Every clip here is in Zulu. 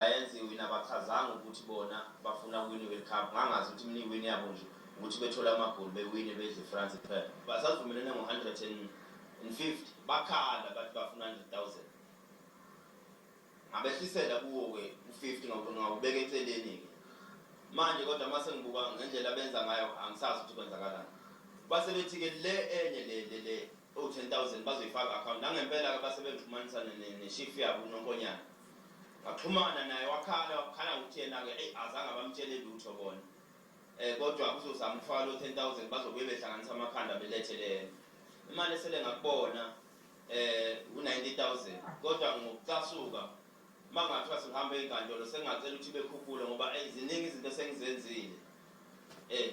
Lions iwina abachazanga ukuthi bona bafuna ukuwina iWorld Cup. Ngangazi ukuthi mina iwin yabo nje ukuthi bethole amagoli bewine bedle France kuphela. Basazivumelene ngo 150 bakhala bathi bafuna 100,000. Ngabehlisela kuwo ke u 50 ngawubeka eceleni ke. Manje kodwa uma sengibuka ngendlela abenza ngayo angisazi ukuthi kwenzakalani. Base bethi ke le enye le le le Ewu 10,000 bazoyifaka account. Nangempela ke base bengixhumanisa ne, ne, ne chief yabo uNonkonyana. Ngaxhumana naye wakhala, wakhala ngokuthi yena ke eyi azange abamtshele lutho bona. Eh kodwa uzozama ukufaka lo 10,000 bazobuye behlanganisa amakhanda belethe le imali esele ngakubona eh u 90,000 kodwa ngokucasuka Uma kungathiwa sihamba ezinkantolo sengingacela ukuthi bekhuphule ngoba eyi ziningi izinto esengizenzile eh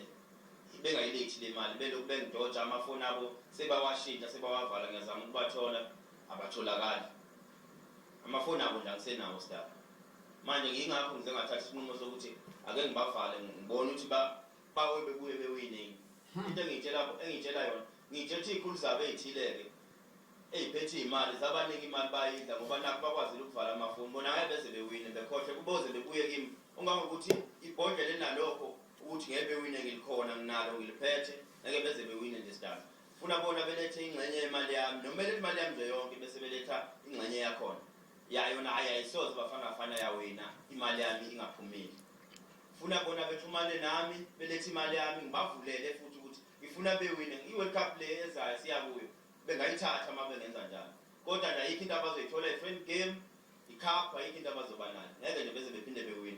bengayilethi le mali belokhu bengidoja amafoni abo sebawashintsha sebawavala ngiyazama ukubathola abatholakali amafoni abo nje angisenawo sdaba manje ngiyingakho ngize ngathatha isinqumo sokuthi ake ngibavale ngibone ukuthi bawe bebuye bewiningi hmm. into engiyitshela engiyitshela yona ngiyitshela ukuthi iy'khulu zabo ey'thile-ke eyiphethe izimali zabanika imali bayidla ngoba nakho bakwazile ukuvala amafoni bona ngeke beze bewine bekhohle kuboze bebuye kimi ungangokuthi ibhodlela enalokho ukuthi ngeke bewine ngilikhona nginalo ngiliphethe ngeke beze bewine nje sidala funa bona belethe ingxenye yemali yami noma belethe imali yami nje yonke bese beletha ingxenye yakhona yayo naye ayisoze bafana bafana yawina imali yami ingaphumile funa bona bethumane nami belethe imali yami ngibavulele futhi ukuthi Ngifuna bewine i-World Cup le ezayo siya kuyo. Bengayithatha uma bengenza njalo. Kodwa nje ayikho into abazoyithola i-friend game, i-cup ayikho into abazoba nayo. Ngeke nje beze bephinde bewine.